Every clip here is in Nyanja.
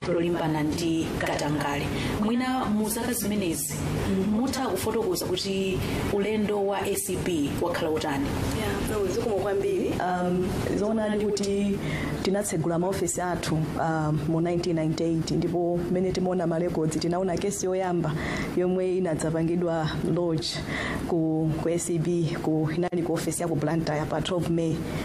lolimbana ndi katangale mwina mu zaka zimenezi mutha kufotokoza kuti ulendo wa acb wakhala wotani zikomo kwambiri um, zoonadi kuti tinatsegula maofesi athu um, mu 1998 ndipo mmene timaona marekodzi tinaona kesi yoyamba yomwe inadzapangidwa lodge ku, ku acb ku inali ku ofesi ya ku blantyre pa 12 may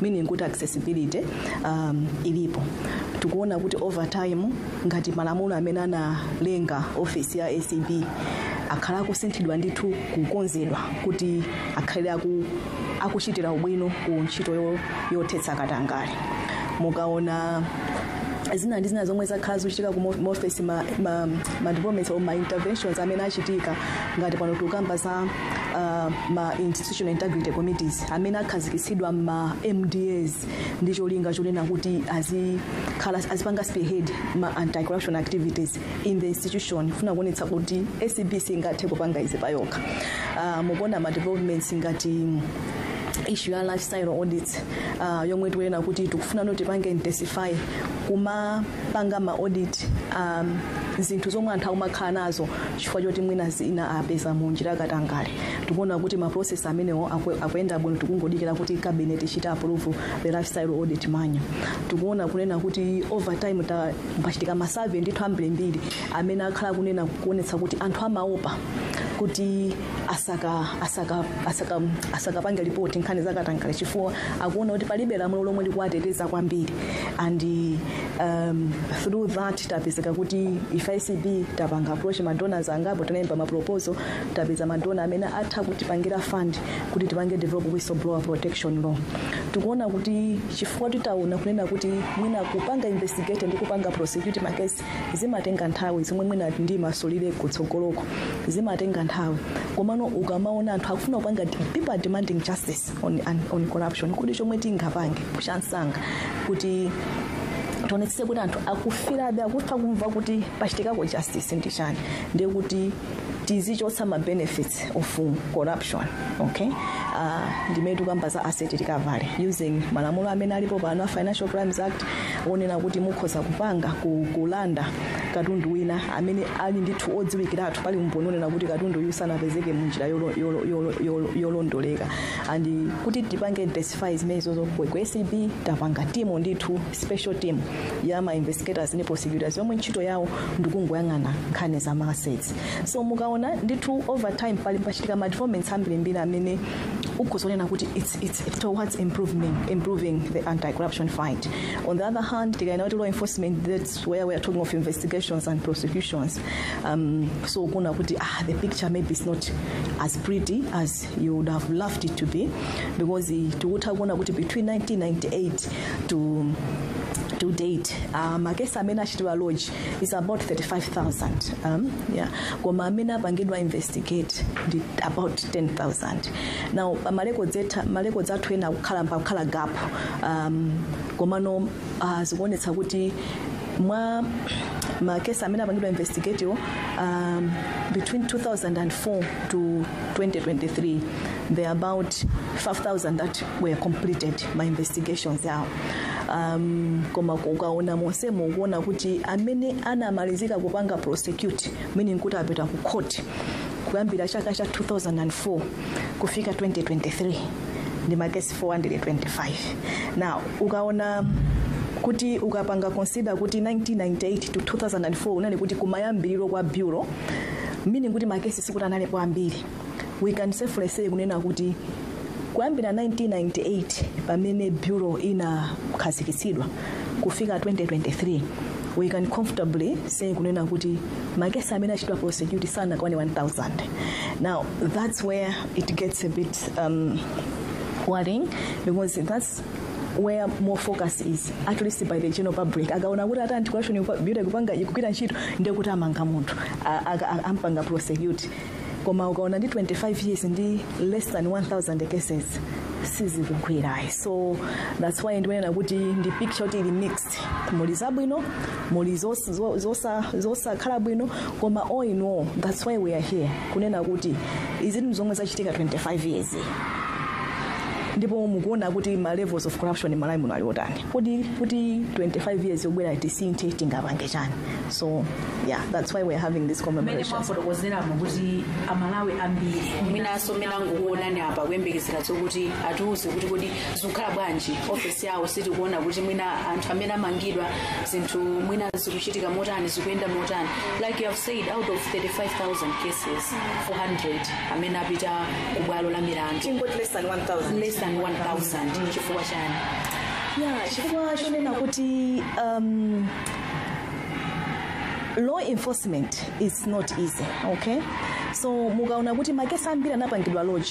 meaning kuti accessibility um, ilipo tikuona kuti over time ngati malamulo amene analenga ofesi ya acb akhala akusinthidwa ndithu kukonzedwa kuti akhale aku, akuchitira ubwino ku ntchito yo- yothetsa katangale mukaona zina ndi zina zomwe zakhala zikuchitika ku mo- office ma, ma, ma developments or ma interventions amene achitika ngati pano tikukamba za uh, ma institutional integrity committees amene akhazikitsidwa mma MDAs ndi cholinga chonena kuti azikhala azipanga spearhead ma anti corruption activities in the institution kufuna kuonetsa kuti ACB singathe kupanga izi payokha uh, mukuona ma developments ngati issue ya lifestyle audits uh, yomwe tikunena kuti tikufuna kuti tipange intensify kumapanga ma audit um, zinthu zomwe anthu akumakhala nazo chifukwa choti mwina zina apeza mu njira yakatangale tikuona kuti ma process amenewo akwe- akuyenda bwino tikungodikira kuti cabinet ichite approve the lifestyle audit manual tikuona kunena kuti over time ta- pachitika ma survey ndithu ambirimbiri amene akhala kunena kuonetsa kuti anthu amaopa kuti asaka asaka asaka asakapange ripoti nkhani zakatangale chifukwa akuona kuti palibe lamulo lomwe likuwateteza kwambiri and um, through that tapezeka kuti ife acb tapanga approach madonors angapo tinalemba maproposal tapeza madonor amene atha kutipangira fund kuti tipange develop whistleblower protection law tikuona kuti chifukwa titaona kunena kuti mwina kupanga investigate ndi kupanga prosecute makesi zimatenga nthawi zomwe mwina ndimasulira kutsogoloko zimatenga nthawi komano ukamaona anthu akufuna kupanga people are demanding justice on, on, on corruption kodi chomwe tingapange chamsanga kuti tionetsetse kuti anthu akufilabe akutha kumva kuti pachitikako justice ndi chani ndiye kuti tizichotsa ma benefits of corruption okay uh, ndimene tikamba za asset recovery using malamulo amene alipo pano a financial crimes act onena kuti mukhoza kupanga ku- kulanda katundu wina amene ali ndithu odziwikiratu pali umboni onena kuti katundu uyu sanapezeke mu njira yolo- yolo- yolo- yolo- yolondoleka and kuti tipange intensify zimenezo ku ku acb tapanga timu ndithu special team ya ma investigators ndi prosecutors yomwe ntchito yawo ndikungoyang'ana nkhani za ma assets so mukaona ndithu over time pali pachitika ma developments ambirimbiri amene akusonyeza kuti it's, it's, it's towards improving, improving the anti-corruption fight on the other hand tikanena kuti law enforcement that's where we are talking of investigations and prosecutions um, so ukuona kuti ah, the picture maybe is not as pretty as you would have loved it to be because eh, tikutha kuona kuti between 1998 to to date uh, makesi amene achitidwa lodge is about 35000 um, yeah. koma amene apangidwa investigate ndi about 10000 now marekodzi athu ena kukhala pakukhala gap um, komano uh, zikuonetsa kuti mwa makesi amene apangidwa investigate wo um, between 2004 to 2023 there are about 5000 that were completed ma investigations awo um, koma ukaona monsemo ukuona kuti amene anamalizika kupanga prosecute meaning kuti apita ku court kuyambira chaka cha 2004 kufika 2023 ndi makesi 425 now ukaona kuti ukapanga consider kuti 1998 to 2004 kunali kuti kumayambiriro kwa bureau meaning kuti makesi sikuti analipo ambiri we can safely say kunena kuti kuyambira 1998 pamene bureau inakhazikitsidwa kufika 2023 we can comfortably say kunena kuti makesi amene achitwa prosecute sanakwane 1000 now that's where it gets a bit um, worrying because that's where more focus is at least by the general public akaona kuti ati anticorruption bureau ikupanga ikugwira ntchito ndiye kuti amanga munthu a- aka- a- ampanga prosecute koma ukaona ndi 25 years ndi less than 1000 cases sizikugwira ayi so that's why ndimanena kuti ndi picture kuti ili mixed muli zabwino muli zos- zo- zosa- zosakhala bwino koma all in all that's why we are here kunena kuti izi ndi zomwe zachitika 25 years ndipo mukuona kuti ma levels of corruption m'malawi muno ali otani kuti kuti 25 years yobwera tisinthe tingapange chani so yeah that's why we're having this commemoration mmene mwafotokozeramo kuti amalawi ambiri mwinanso mmene angokuonani apa akuyembekezera zokuti atiuze kuti kodi zikukhala bwanji ofesi yawo sitikuona kuti mwina anthu amene amangidwa zinthu mwina zikuchitika motani zikuyenda motani like you have said out of 35000 cases 400 amene apita ku bwalo la milandu tingoti less than 1000 less than 1000 chifukwa chani ya chifukwa chonena kuti um, law enforcement is not easy okay so mukaona kuti makesi ambiri anapangidwa lodge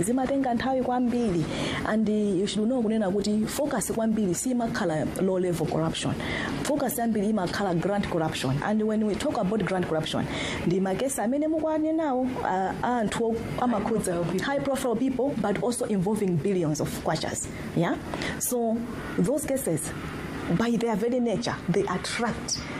zimatenga nthawi kwambiri and you should know kunena kuti focus kwambiri simakhala low level corruption focus yambiri imakhala grand corruption and when we talk about grand corruption ndi makesi amene mukuwanenawo a a anthu o- amakhudza high profile people but also involving billions of kwachas yeah so those cases by their very nature they attract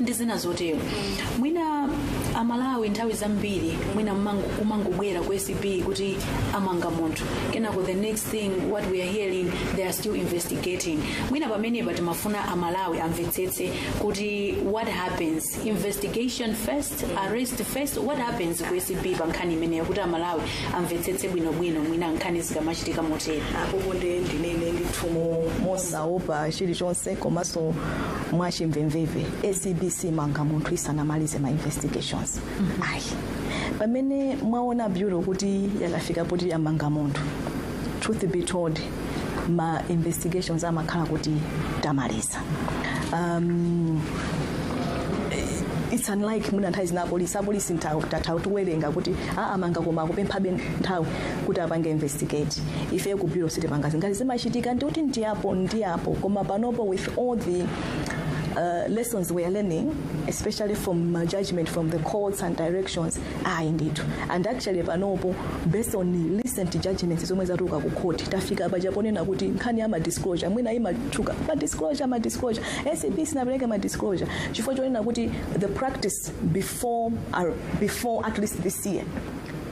ndi zina zotero mwina amalawi nthawi zambiri mwina mmango- kumangobwera ku acb kuti amanga munthu kenako the next thing what we are hearing they are still investigating mwina pamenepa timafuna amalawi amvetsetse kuti what happens investigation first arrest first what happens ku acb pa nkhani imeneyo kuti amalawi amvetsetse bwinobwino mwina nkhani zikamachitika motero apopo ndiye ndinene ndithu mo- mosaopa chilichonse komanso mwachimvemveve acb simanga munthu isanamalize ma investigations ayi pamene mwaona bureau kuti yakafika poti yamanga munthu truth be told ma investigations amakhala kuti tamaliza um, it's unlike mwina nthawi zina apolisi apolisi nthawi zina timatha kuwerenga kuti amanga koma akupemphabe nthawi kuti apange investigate ife ku bureau sitipanga zimenezo chimachitika ndi kuti ndiyapo ndiyapo koma panopo with all the uh, lessons we are learning, especially from uh, judgment from the courts and directions, ayi ndithu. And actually, panopo, based on the recent judgments zomwe zatuluka ku court, tafika paja ponena kuti nkhani ya ma disclosure, mwina imatchuka ma disclosure, ma disclosure, ACB sinapereke ma disclosure, chifukwa chonena kuti the practice before, uh, before at least this year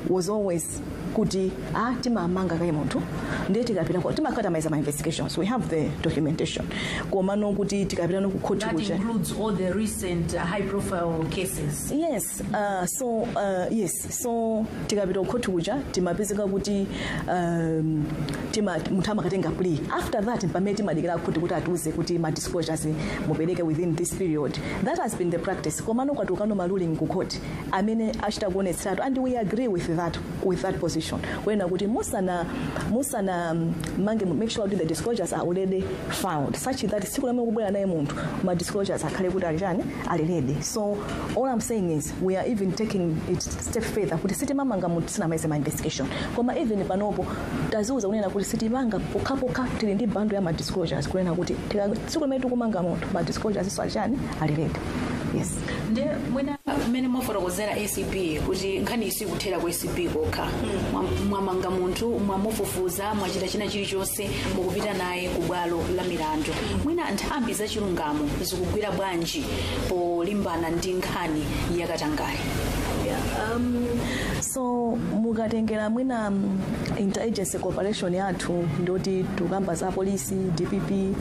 was always kuti ah, timamanga kaye munthu ndiye tikapita ko- timakhala tamaliza ma investigations we have the documentation komano kuti tikapita ku khoti kuja That includes all the recent uh, high profile cases. yes uh, so uh, yes so tikapita kukhoti kuja timapezeka kuti um, tima, munthu amakatenga plea after that pamene timadikira khoti kuti atiuze kuti ma disclosures mupereke within this period that has been the practice komano kwatuluka ano maruling ku court amene achita kuonetseratu and we agree with that, with that position kunena kuti musana musana mm, mange make sure kuti the disclosures are already found such that tsiku limene tikubwera naye munthu ma disclosures akhale kuti ali chani ali ready so all i'm saying is we are even taking it step further kuti sitimamanga munthu tisanamalize ma investigation koma even panopo tadziuza kunena kuti sitimanga pokhapokha tili ndi bundle ya ma disclosures kunena kuti tika- tsiku limene tikumanga munthu ma disclosures iso ali chani ali ready yes nde mwina mmene mwafotokozera acb kuti nkhani iyi sikuthera ku acb kokha Mwa- mwamanga munthu mwamufufuza mwachita china chilichonse mukupita naye ku bwalo la milandu mwina nthambi za chilungamo zikugwira bwanji polimbana ndi nkhani yakatangale um, so mukatengera mwina mm, interagency cooperation yathu ndoti tikukamba za polisi dpp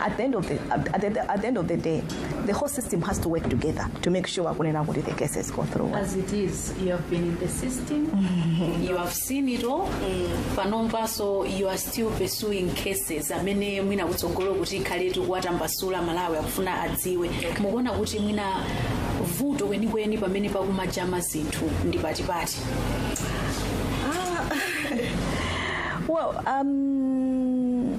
at the end of the, at the, at the end of the day the whole system has to work together to make sure kunena kuti the cases go through As it is, you have been in the system, you have seen it all, panomo so you are still pursuing cases amene mwina kutsogolo kuti tikhale tikuwatambasula aMalawi akufuna adziwe mukuona kuti mwina vuto kwenikweni pamene pakumajama zinthu ndi pati pati well um,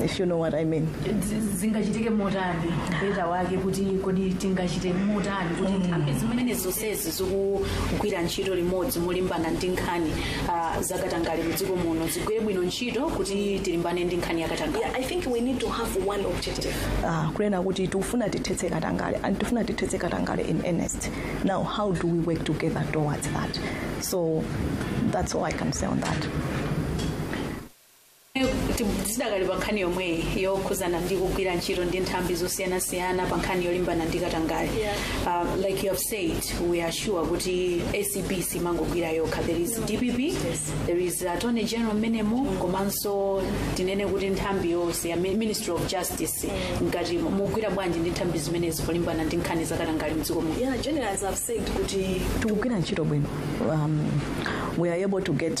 if you know what I mean. zingachitike motani beta wake kuti kodi tingachite motani kuti nthambi zimenezi zonsezi zimene zikugwira ntchito limodzi molimbana ndi nkhani ah, zakatangale mu dziko muno zigwire bwino ntchito kuti tilimbane ndi nkhani yakatangale Yeah, I think we need to have one objective. Uh, kunena kuti tifuna tithetse katangale and tifuna tithetse katangale in earnest. Now how do we work together towards that? So that's all I can say on that. tidakali pa nkhani yomweyi yokhuzana ndi kugwira ntchito ndi nthambi zosiyanasiyana pa nkhani yolimbana ndi katangale Yeah. uh, like you have said we are sure kuti acb simangogwira yokha there is dpp there is attorney general mmenemo komanso tinene kuti nthambi yonse ya Mi- ministry of justice mukugwira bwanji ndi nthambi zimenezi polimbana ndi nkhani za katangale mdziko muno Yeah, generally, as I've said, kuti tikugwira ntchito bwino um, we are able to get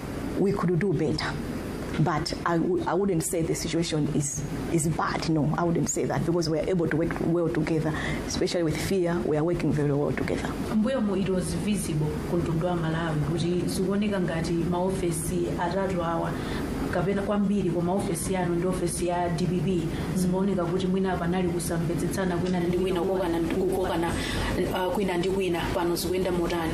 we could do better. But I w- I wouldn't say the situation is, is bad. No, I wouldn't say that because we are able to work well together, especially with fia. We are working very well together. mbuyomu it was visible ku mtundu wa malawi kuti zikuoneka ngati maofesi atatu awa kapena kwambiri kwa maofesi anu ndi ofesi ya dpp zimaoneka kuti mwina panali kusamvetsetsana kwina ndi kwina kukokana kwina ndi kwina pano zikuyenda motani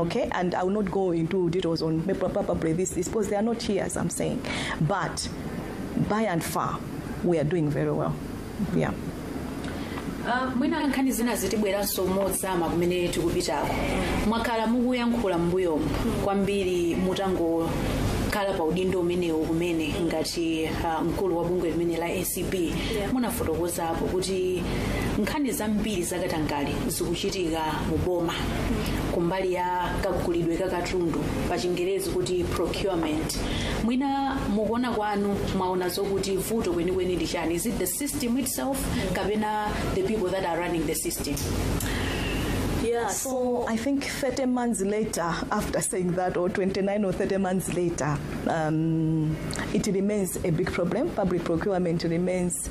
okay and i will not go into details on probably this, this because they are not here as i'm saying but by and far we are doing very well yeah Ah, mwina nkhani zinazi tibweranso mozama kumene tikupitako mwakhala mukuyankhula mbuyomu kwambiri mutangokhala pa udindo umenewu kumene ngati ah, mkulu wa bungwe limeneli la acb munafotokozapo kuti nkhani zambiri zakatangale zikuchitika mu boma kumbali ya kagulidwe ka katundu pa chingerezi kuti procurement mwina mukuona kwanu mwaona zokuti vuto kwenikweni ndi chani is it the system itself kapena the people that are running the system Yeah, so So I think 30 months later, after saying that, or 29 or 30 months later, um, it remains a big problem. Public procurement remains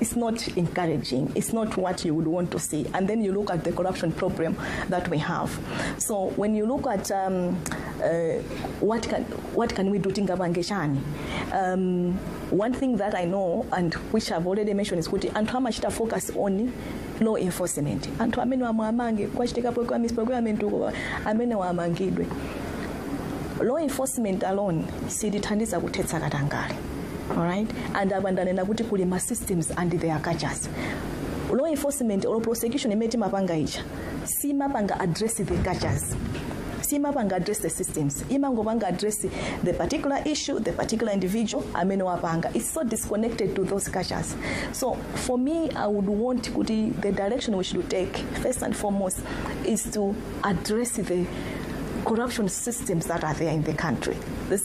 It's not encouraging. It's not what you would want to see. And then you look at the corruption problem that we have. So when you look at um, uh, what can what can we do tingabangeshani um, one thing that i know and which i've already mentioned is kuti anthu amachita focus on law enforcement anthu amene wamwamange kwachitikapo kwa misprocurement uko amene wamangidwe law enforcement alone silithandiza kuthetsa katangale alright and apa ndanena kuti kuli ma systems and their cultures law enforcement or prosecution imene timapanga ija simapanga address the cultures simapanga address the systems imangopanga address the particular issue the particular individual amene wapanga it's so disconnected to those cultures so for me i would want kuti the direction we should take first and foremost is to address the corruption systems that are there in the country. This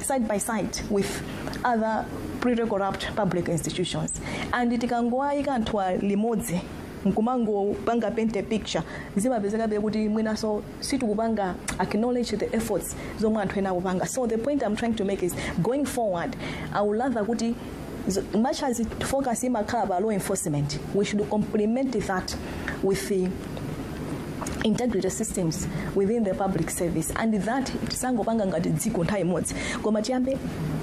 side by side with other pretty corrupt public institutions and tikangoayika nthawi imodzi nkumangopanga paint a picture zimapezekabe kuti mwinanso sitikupanga acknowledge the efforts zomwe anthu ena akupanga so the point i'm trying to make is going forward i would rather kuti Z- much as it focus imakhala pa law enforcement we should complement that with the integrity systems within the public service and that tisangopanga ngati dziko nthawi imodzi koma tiyambe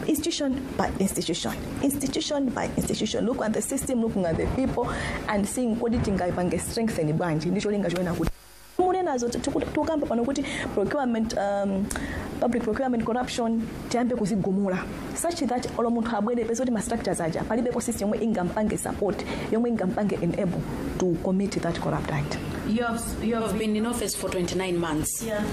institution by institution institution by institution look at the system looking at the people and seeing kodi tingaipange strengthen bwanji ndicholinga choona kuti munenazo ti- tiku- tikukamba pano kuti procurement um, public procurement corruption tiyambe kuzigumula such that olo munthu abwere peza kuti ma structures aja palibepo system yomwe ingampange support yomwe ingampange enable to commit that corrupt act You have, you have been in office for 29 months Yeah.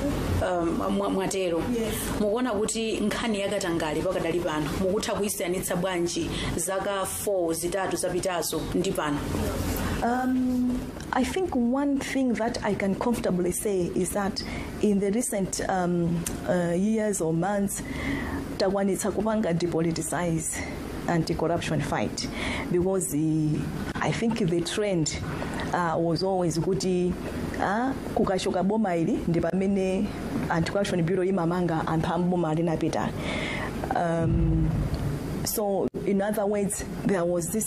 um, mwa- mwatero Yes. mukuona kuti nkhani yakatangale pakadali pano mukutha kuyisiyanitsa bwanji zaka 4 zitatu zapitazo ndi pano Um, I think one thing that I can comfortably say is that in the recent um, uh, years or months, takwanitsa kupanga depoliticize anti-corruption fight because the, I think the trend uh, was always kuti uh, kukachoka boma ili ndi pamene anti-corruption bureau imamanga anthu amboma linapita um, so in other words there was this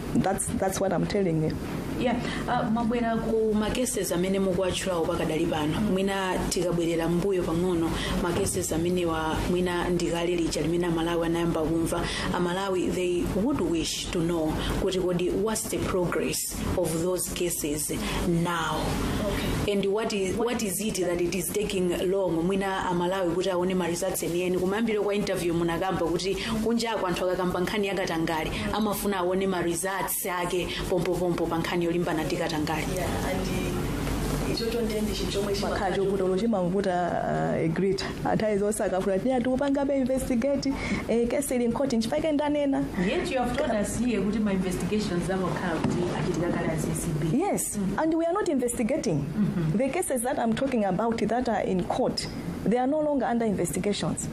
that's, that's what i'm telling you yeah uh, mwabwera ku makeses amene mukuwatchulawo pakadali pano mwina tikabwerera mbuyo pang'ono makeses amenewa mwina ndikale lija limene amalawi anayamba kumva amalawi they would wish to know kuti kodi what's the progress of those cases now okay. and what is, what is it that is taking long mwina amalawi kuti aone ma results enieni kumayambiro kwa interview munakamba kuti kunjako anthu akakamba nkhani yakatangale amafuna aone ma results ake pompopompo pa nkhani yolimbana ndi katangale ichocho ndiye ndi chinthu chomwe chima- makhala chovuta olo chimavuta uh, egrita nthawi zonse akafuna kuti iya tikupangabe investigate eh, kesi ili mkhoti nchipake ndanena yet you have told us here kuti ma investigations amakhala kuti achitika kale as ACB Yes, and we are not investigating. The cases that I'm talking about that are in court, they are no longer under investigations.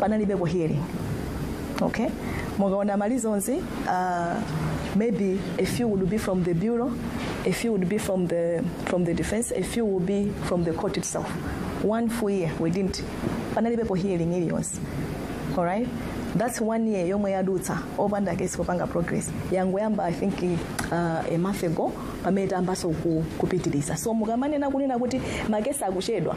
panalibepo hearing okay mukaona ma reasons uh, maybe a few would be from the bureau a few would be from the from the defense a few would be from the court itself one full year we didn't panalibepo hearing iliyonse alright that's one year yomwe yadutsa opanda kesi kupanga progress yangoyamba i think uh, a month ago pamene tayambanso ku- kupitiriza so mukamanena kunena kuti makesi akuchedwa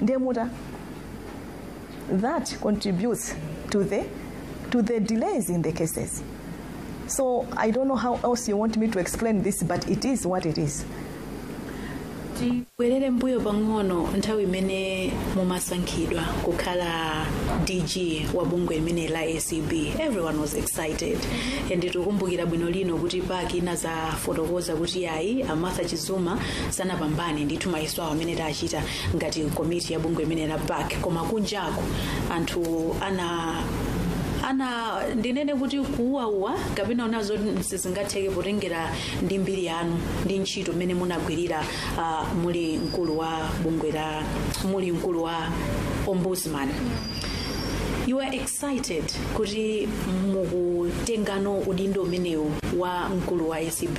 ndiye muta that contributes to the to the delays in the cases so i don't know how else you want me to explain this but it is what it is tibwerere mbuyo pang'ono nthawi imene mumasankhidwa kukhala dg wa bungwe limene la acb everyone was excited and tikukumbukira bwino lino kuti pac inazafotokoza kuti ayi a martha chizuma sanapambane ndithu mayeso awo amene tachititsa ngati komiti ya bungwe limeneli la pac koma kunjaku anthu ana ana ndinene kuti kuwowowa kapena unazo sizingatheke potengera ndi mbiri yanu ndi ntchito mmene munagwirira uh, muli mkulu wa bungwe la muli mkulu wa ombudsman you are excited kuti mukutengano udindo umenewu wa mkulu wa acb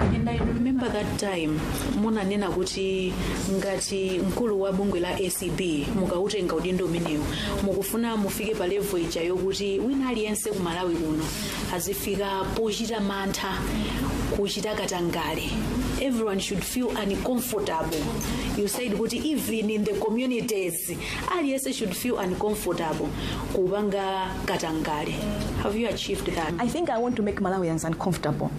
and i remember that time munanena kuti ngati mkulu wa bungwe la acb mukautenga udindo umenewu mukufuna mufike pa level ija yokuti wina aliyense ku malawi kuno azifika pochita mantha kuchita katangale everyone should feel uncomfortable you said kuti even in the communities aliyense should feel uncomfortable kupanga katangale have you achieved that I think I want to make Malawians uncomfortable.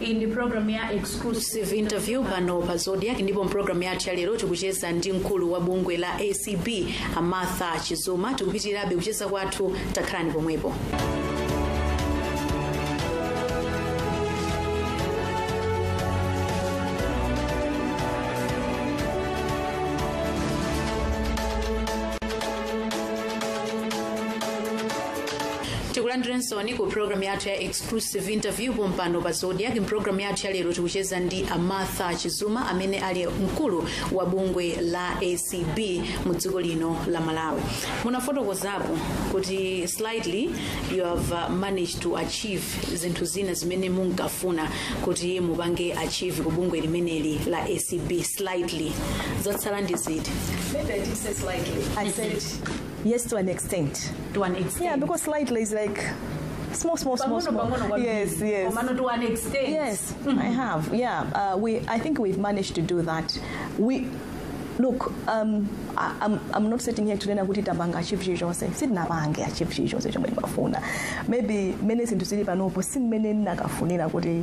iyi ndi programu ya exclusive interview pano pa zodiak ndipo mpulogalamu yathu ya lero tikucheza ndi mkulu wa bungwe la acb a martha chizuma tikupitirabe kucheza kwathu takhalani pomwepo tikulandireninso ku programu yathu ya exclusive exclusive interview pompano pa zodiak mpulogalamu yathu yalero tikucheza ndi a martha chizuma amene ali mkulu wa bungwe la acb mu dziko lino la malawi munafotokozapo kuti slightly you have uh, managed to achieve zinthu zina zimene munkafuna kuti mupange achieve ku bungwe limeneli la acb slightly zatsala ndi ziti Maybe I didn't say slightly. I said yes to an extent to an extent yeah because slightly is like small small small Pang'ono, small pang'ono kwambiri. yes yes Komano to an extent Yes, I have. Yeah, uh, we. I think we've managed to do that. We look. Um, I, I'm, I'm not sitting here today kunena kuti tapanga achieve chilichonse sitinapange achieve chilichonse chomwe ndimafuna maybe mmene zinthu zili panopo si mmene ndinakafunira kuti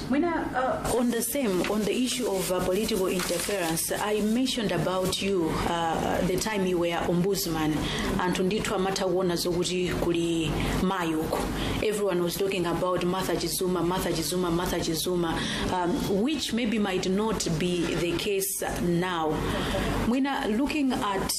When I, uh, on the same, on the issue of uh, political interference, I mentioned about you uh, the time you were ombudsman, anthu ndithu amatha kuona zokuti kuli mayi uko. Everyone was talking about Martha Chizuma, Martha Chizuma, Martha Chizuma, um, which maybe might not be the case now. Mwina, looking at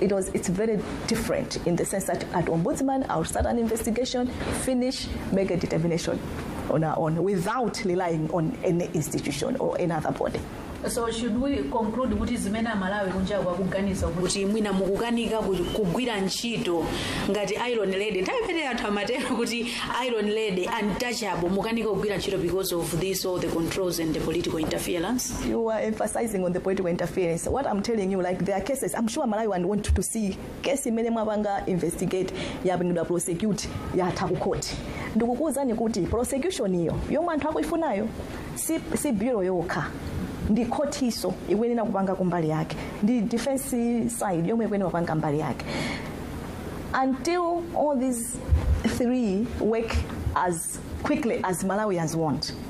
It was, it's very different in the sense that at Ombudsman, I'll start an investigation, finish, make a determination on our own without relying on any institution or any other body. so should we conclude kuti zimene amalawi kunjaku akuganiza kuti kuti mwina mukukanika ku- kugwira ntchito ngati iron lady nthawi imene anthu amatero kuti iron lady untouchable mukanika kugwira ntchito because of this all the controls and the political interference You are emphasizing on the political interference. What I'm telling you, like there are cases, I'm sure Malawian want to see case imene mwapanga investigate yapangidwa prosecute yatha ku court. Ndikukuwuzani kuti prosecution yo yomwe anthu akuifunayo si, si bureau yokha ndi khotiso ikuyenera kupanga mbali yake ndi defense side yomwe ikuyenera kupanga mbali yake until all these three work as quickly as malawians want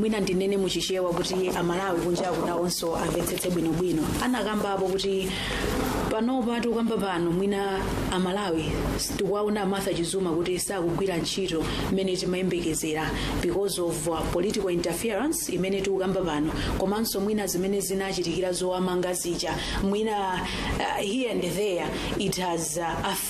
mwina ndinene muchichewa kuti amalawi kunja kunawonso amvetsetse bwinobwino munakambapo kuti panopa tikukamba pano mwina amalawi tikuwaona martha chizuma kuti sakugwira ntchito imene timayembekezera because of uh, political interference imene tikukamba pano komanso mwina zimene zinachitikira zowamanga zija mwina uh, here and there it has uh, affected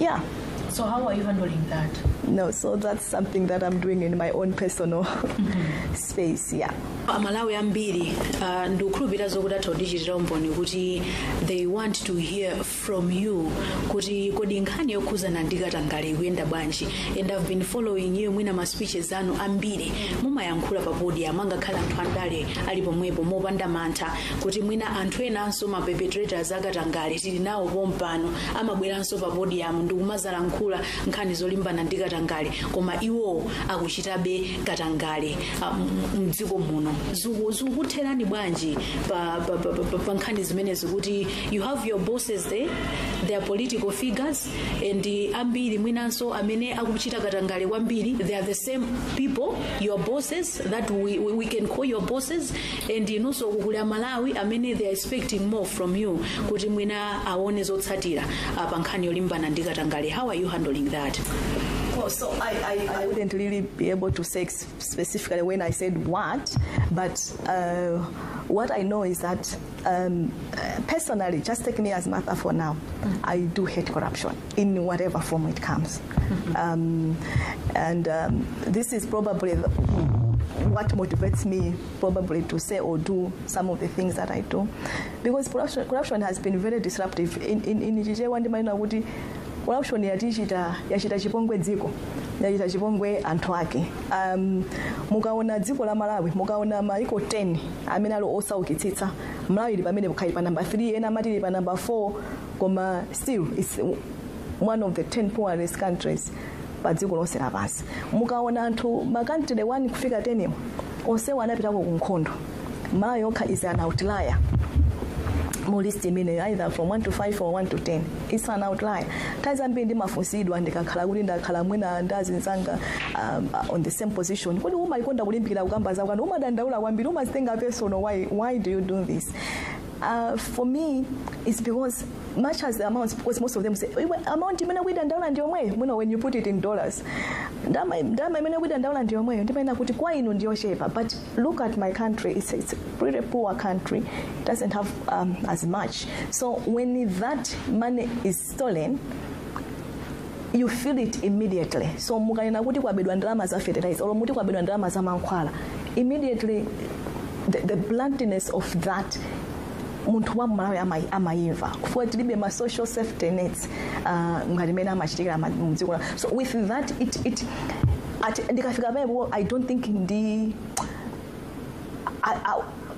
Yeah. So how are you handling that? No, so that's something that I'm doing in my own personal space. Yeah. amalawi ambiri uh, ndikukhulupirira zokuti atha kundichitira umboni kuti they want to hear from you kuti kodi nkhani yokhuzana ndi katangale ikuyenda bwanji and i've been following you mwina ma speeches anu ambiri mumayankhula pa podium angakhale anthu andale ali pomwepo mopanda mantha kuti mwina anthu enanso ma perpetrators akatangale tili nawo pompano amabweranso pa podium ndikumadzalankhula nkhani zolimbana ndi katangale koma iwowo akuchitabe katangale ah, m- mdziko muno Ziku- zikutherani bwanji pa, pa, pa, pa, pa nkhani zimenezi kuti you have your bosses there they are political figures and eh, ambiri mwinanso amene akuchita katangale kwambiri they are the same people your bosses that we, we, we can call your bosses and inunso kukuli amalawi amene they are expecting more from you kuti mwina aone zotsatira ah, pa nkhani yolimbana ndi katangale how are you handling that Well, so I, I, I wouldn't really be able to say ex- specifically when I said what, but uh, what I know is that um, uh, personally, just take me as Martha for now, I do hate corruption. in whatever form it comes. Um, and um, this is probably the- what motivates me probably to say or do some of the things that I do. Because corruption, corruption has been very disruptive. In, in, in Chichewa ndimanena kuti corruption yatichita yachita chipongwe dziko yachita chipongwe anthu ake um, mukaona dziko la malawi mukaona maiko 10 amene ali osaukitsitsa malawi ili pamenepo kaya ili pa namba 3 ena amati ili pa namba 4 koma still it's one of the 10 poorest countries pa dziko lonse lapansi mukaona anthu ma country 1 kufika 10 onsewo anapitako ku nkhondo malawi yokha is an outlier mu list imeneyo either from 1 to 5 or 1 to 10 it's an outlier nthawi zambiri ndimafunsidwa ndikakhala kuti ndakhala mwina ndi azinzanga um, uh, on the same position kodi umayikonda kulimbikira kukamba zakwanu umadandaula kwambiri umazitenga personal why, why do you do this Uh, for me, it's because much as the amounts, because most of them say, "Iwe, amount imene ukuidandaula ndi yomweyo mwina when you put it in dollars ndalama imene ukuidandaula ndi yomweyo ndimanena kuti kwa inu ndi yochepa but look at my country it's, it's a pretty poor country it doesn't have um, as much so when that money is stolen you feel it immediately so mukanena kuti kwabedwa ndalama za fertilizer or muti kwabedwa ndalama za mankhwala immediately the, the bluntness of that munthu wa mmalawi ama- amayimva chifukwa tilibe ma social safety nets uh, ngati mmene amachitikira ma- mu dziko la so with that it, it, at, ndikafika pamenepo i don't think ndi I, I,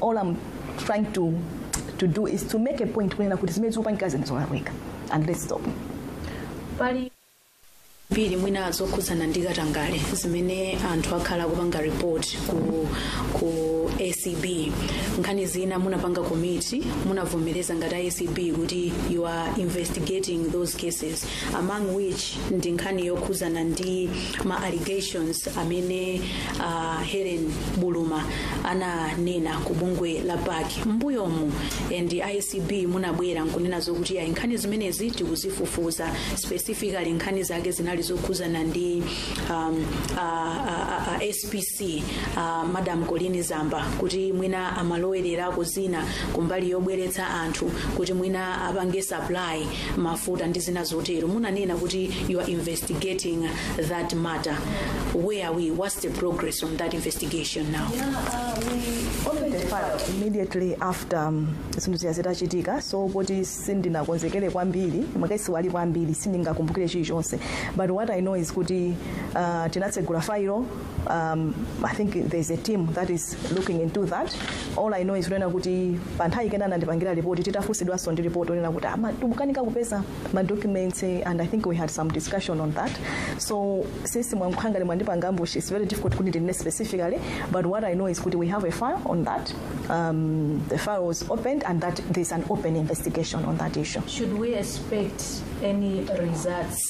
all I'm trying to to do is to make a point kunena kuti zimene zikupangika zinthu zolakwika and let's stop pali mbiri mwina zokhudzana ndi katangale zimene anthu akhala akupanga report ku, ku acb nkhani zina munapanga commit munavomereza ngati acb kuti you are investigating those cases among which ndi nkhani yokhuzana ndi ma allegations amene uh, helen buluma ananena ku bungwe la pac mbuyomu and a acb munabwera nkunena zokuti ayi nkhani zimenezi tikuzifufuza specifically nkhani zake zinali zokhuzana ndi um, uh, uh, uh, spc spc uh, madam colleen zamba kuti mwina amalowererako zina kumbali yobweretsa anthu kuti mwina apange supply mafuta ndi zina zotero munanena kuti you are investigating that matter where are we what's the progress on that investigation now we opened the file immediately after um, zinthu ziya zitachitika so poti sindinakonzekere kwambiri makesiwa ali kwambiri sindingakumbukire chilichonse but what i know is kuti uh, tinatsegula file um, i think there's a team that is looking into that all i know is kunena kuti pa nthawi ina anandipangira ripoti titafunsidwanso ndi ripoti onena kuti ama- tikukanika kupeza ma documents eh, and i think we had some discussion on that so since mwakhala ngati mwandipanga ambush it's very difficult kuti ndinene specifically but what i know is kuti we have a file on that um, the file was opened and that there's an open investigation on that issue Should we expect any results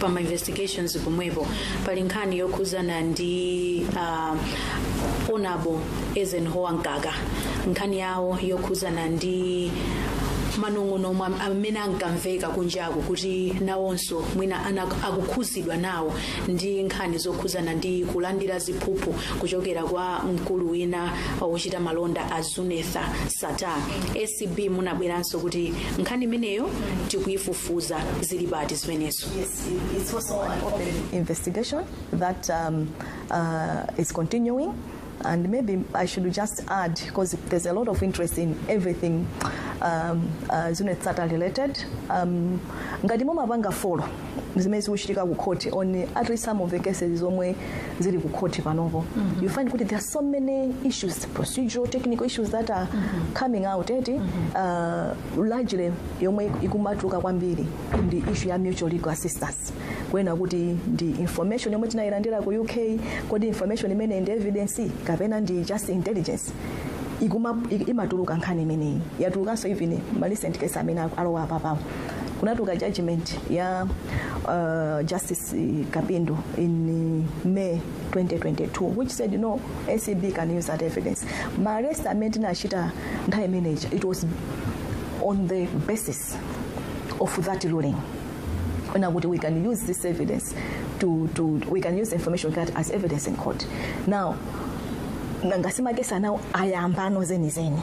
pa ma investigations pomwepo pali nkhani yokhuzana ndi uh, Honourable Eisenhower Mkaka nkhani yawo yokhuzana ndi manong'onong'o omwe am- amene ankamveka kunjaku kuti nawonso mwina ana- akukhuzidwa nawo ndi nkhani zokhuzana ndi kulandira ziphuphu kuchokera kwa mkulu wina wochita malonda a Zuneth Sattar ACB munabwezanso kuti nkhani imeneyo tikuyifufuza zili pati zimenezo It's also an open investigation that um, uh, is continuing. And maybe I should just add, because there's a lot of interest in everything um, uh, Zuneth Sata related. Um, ngati mumapanga follow zimene zikuchitika ku court on at least some of the cases zomwe zili ku court panopo you find kuti there are so many issues procedural technical issues that are coming out eti uh, largely yomwe ikumatuluka kwambiri ndi issue ya mutual legal assistance kunena kuti ndi information yomwe tinayilandira ku uk kodi information imeneyi ndi evidence kapena ndi just intelligence ikuma imatuluka nkhani imeneyi yatulukanso even ma recent case amene alowa apapawo kunatuka judgment ya uh, justice kapindo in may 2022 which said no acb can use that evidence ma arrest amene tinachita nthawi imeneyi it was on the basis of that ruling ona kuti we can use this evidence to, to we can use the information we got as evidence in court now nangasi makesi anawo ayambano zenizeni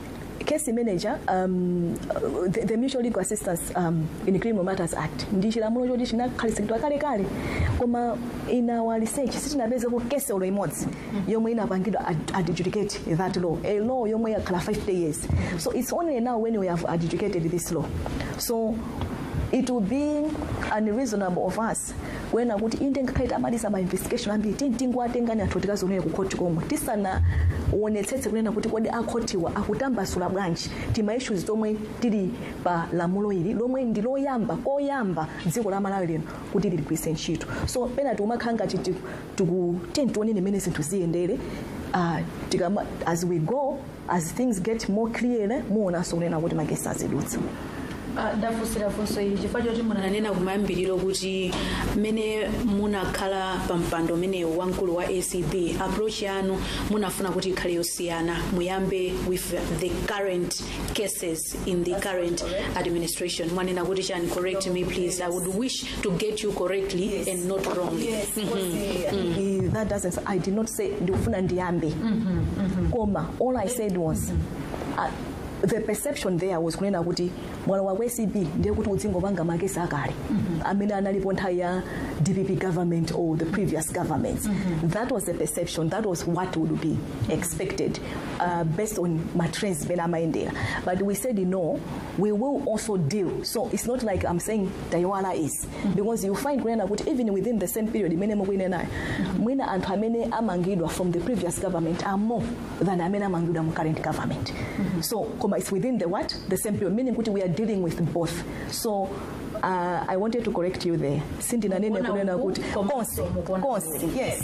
case manager um, the, the mutual legal assistance um, in criminal matters act ndi chilamulo choti chinakhazikitsidwa kalekale koma in our research sitinapezeko case olo imodzi yomwe inapangidwa ad- adjudicate that law a law yomwe yakhala 50 years so it's only now when we have adjudicated this law so it would be unreasonable of us kunena kuti inde ngakhale tamaliza ma investigation ambiri tiyeni tingowatengani anthu tikadzionere ku khoti komwe tisanaonetsetse kunena kuti kodi akhotiwa akutambasula bwanji tima issues tomwe tili pa lamulo ili lomwe ndi koyamba koyamba dziko la malawi lino kuti liligwiritse ntchito so pena tikumakhala ngati tiku- tiku- tiyeni tione mmene zinthu ziyendere uh, tikama, as we go as things get more clear muonanso kunena kuti ma case azidutsa Ah, ndafunsira funso ili chifukwa choti munanena kumayambiriro kuti mmene munakhala pa mpando umenewu wamkulu wa acb approach yanu munafuna kuti ikhale yosiyana muyambe with the current cases in the current administration mwanena kuti chani correct me please i would wish to get you correctly yes. and not wrongly yes. mm -hmm. mm -hmm. Eh, that doesn't i did not say ndikufuna ndiyambe mm -hmm. mm -hmm. koma all i said was mm -hmm. uh, the perception there was kunena kuti mwana wa acb ndiye kuti udzingopanga makesi akale mm -hmm. amene analipo nthawi ya dpp government or the previous governments mm -hmm. that was the perception that was what would be expected uh, based on matrends amene amayendera but we said no we will also deal so it's not like i'm saying taiwala izi because you find kunena kuti even within the same period imene mukunenayo mwina anthu amene amangidwa from the previous government are more than amene amangidwa mu current government so koma it's within the what the same period meaning kuti we are dealing with both so uh, i wanted to correct you there sindinanene Mukuona kunena uku, kuti koma konse mukuona konse yes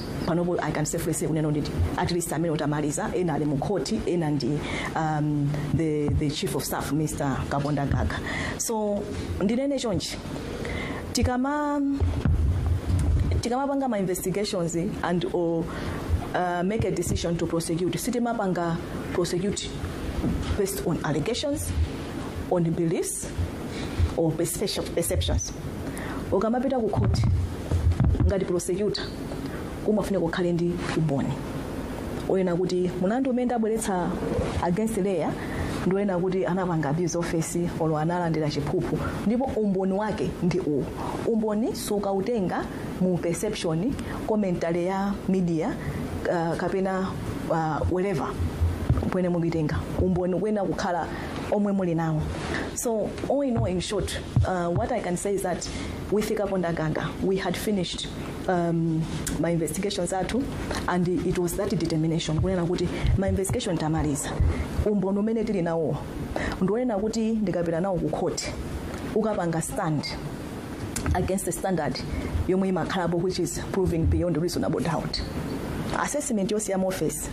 panopo i can safely say kunena kuti at least amene tamaliza ena ali mu court ena ndi um, the, the chief of staff mr Kapondamgaga so ndinene chonchi tikama tikamapanga ma investigations and or uh, make a decision to prosecute sitimapanga prosecute based on allegations on beliefs or perception- perceptions ukamapita ku khoti ngati prosecutor umafunika ukhale ndi umboni oyenera kuti mulandu umene ndabweretsa against lawyer ndi oyenera kuti anapanga abuse of office olo analandira chiphuphu ndipo umboni wake ndi uwu umboni sukautenga mu perception commentary ya media uh, kapena uh, wherever kwene mukitenga umboni kuyenera kukhala omwe muli nawo so all in all in short uh, what i can say is that with kapondamgaga we had finished um, ma investigations athu and it was that determination kunena kuti ma investigation tamaliza umboni umene tili nawo ndi oyenera kuti ndikapita nawo ku court ukapanga stand against the standard yomwe imakhalapo which is proving beyond reasonable doubt assessment yosiyama office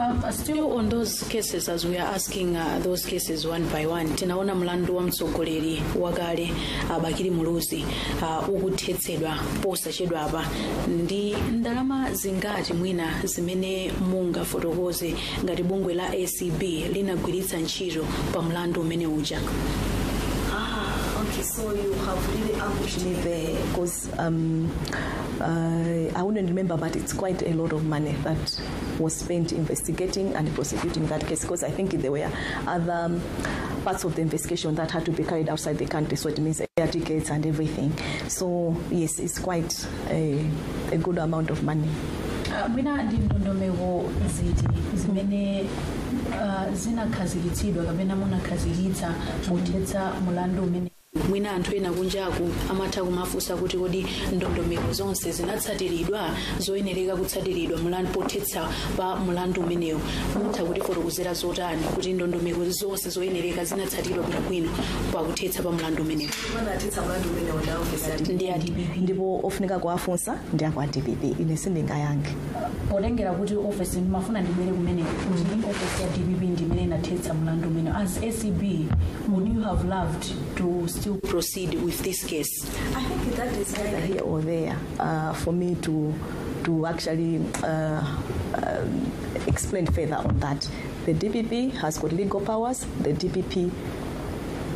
Um, still on those cases as we are asking uh, those cases one by one tinaona mlandu wa mtsogoleri wakale uh, bakili muluzi uh, ukuthetsedwa posachedwapa ndi ndalama zingati mwina zimene mungafotokoze ngati bungwe la acb linagwiritsa ntchito pa mlandu umene uja Ah, okay, so you have really ambushed me there because Um, uh, I wouldn't remember, but it's quite a lot of money that was spent investigating and prosecuting that case because I think there were other um, parts of the investigation that had to be carried outside the country, so it means air tickets and everything. So, yes, it's quite a, a good amount of money. Uh, mwina ndi ndondomeko ziti zimene uh, zinakhazikitsidwa kapena munakhazikitsa pothetsa mulandu umene mwina anthu ena kunjaku amatha kumafunsa kuti kodi ndondomeko zonse zinatsatiridwa zoyenereka kutsatiridwa mulandu pothetsa pa mulandu umenewu mutha kutifotokozera zotani kuti ndondomeko zonse zoyenereka zinatsatiridwa bwinobwino pakuthetsa pa mulandu umenewu anathetsa mlandu umene uja ndi a dpp ndipo ofunika kuwafunsa ndi a kwa dpp ine sindingayankhe potengera kuti office ndimafuna ndibwere kumeneko kuti office ya dpp ndimene inathetsa mlandu umenewu as acb would you have loved to still proceed with this case i think that is either here or there uh, for me to to actually uh, um, explain further on that the dpp has got legal powers the dpp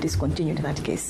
discontinued that case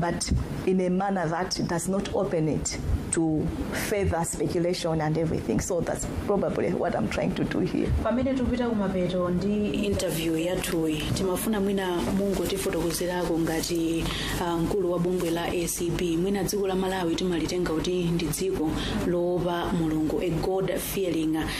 but in a manner that does not open it to further speculation and everything. So that's probably what I'm trying to do here. pamene tikupita kumapeto ndi interview yathuyi timafuna mwina mungotifotokozerako ngati ah, mkulu wa bungwe la acb mwina dziko la malawi timalitenga kuti ndi dziko loopa mulungu a god fearing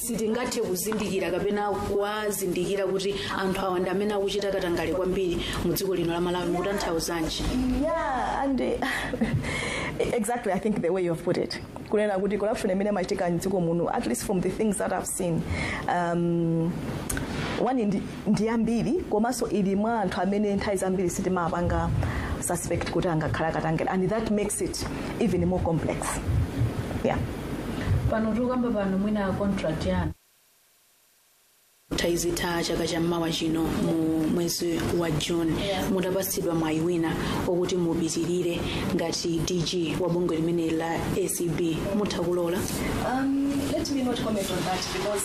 sitingathe kuzindikira kapena kuwazindikira kuti anthu awa ndi amene akuchita katangale kwambiri mu dziko lino la malawi mukutanthauzanji yeah and uh, exactly i think the way you have put it kunena kuti corruption imene imachitika mdziko muno at least from the things that i've seen um, one ndi ndi yambiri komanso ili mwa anthu amene nthawi zambiri sitimapanga suspect kuti angakhale akatangale and that makes it even more complex yeah. pano tikukamba pano mwina contract yanu idzatha chaka cha mmawa chino mu mwezi wa june mutapatsidwa mwayi wina woti mupitirire ngati dg wa bungwe limene la acb mutha kulola Um, let me not comment on that because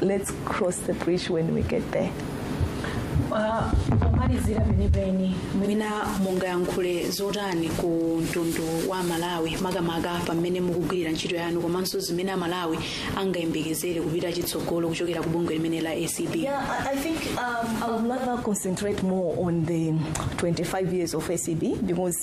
let's cross the bridge when we get there Ah, pomalizira penipeni mwina mungayankhule zotani ku mtundu wa Malawi makamaka pamene mukugwirira ntchito yanu komanso zimene amalawi angayembekezere kupita chitsogolo kuchokera ku bungwe limene la acb Yeah, I, I think um, I would rather concentrate more on the 25 years of ACB because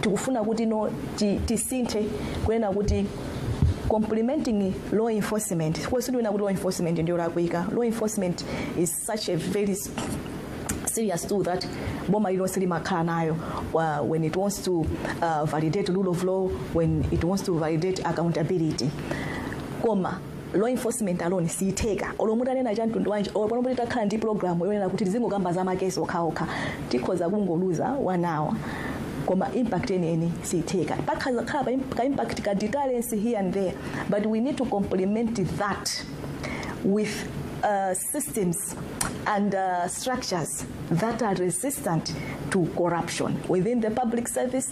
tikufuna kuti no ti- tisinthe kunena kuti complementing law enforcement sindikunena kuti law enforcement ndi yolakwika law enforcement is such a very s- serious tool that boma lilonse limakhala nayo uh, when it wants to uh, validate rule of law when it wants to validate accountability koma law enforcement alone siyitheka olo mutanena cha mtundu wanji olo pano titakhala ndi program yonena kuti tizingokamba za makesi okhaokha tikhoza kungoluza one hour koma impact yeniyeni siyitheka padzakhala pa imp- ka impact ka deterrence here and there but we need to complement that with uh, systems and uh, structures that are resistant to corruption within the public service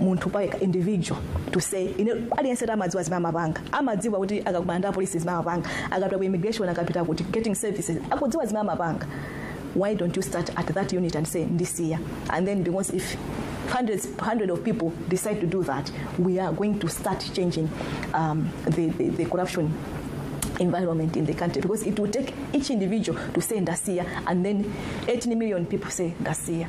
munthu payekha individual to say ine aliyense amadziwa zimene amapanga amadziwa kuti akakumana ndi apolisi zimene amapanga akapita ku immigration akapita kuti getting services akudziwa zimene amapanga why don't you start at that unit and say ndisiya and then because if hundreds hundred of people decide to do that we are going to start changing um, the, the, the corruption environment in the country because it will take each individual to say ndasiya and then 18 million people say ndasiya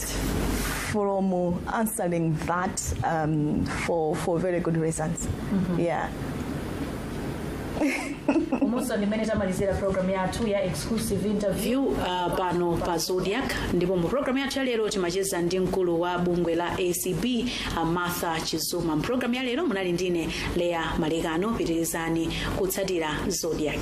from answering that um, for, for very good reasons. Yeah. umu ndi mmene tamalizira programu yathu ya exclusive interview uh, pano pa zodiac ndipo mu programu yathu ya lero timacheza ndi mkulu wa bungwe la acb uh, martha chizuma mu programu ya lero munali ndine Leah Malekano pitirizani kutsatira zodiac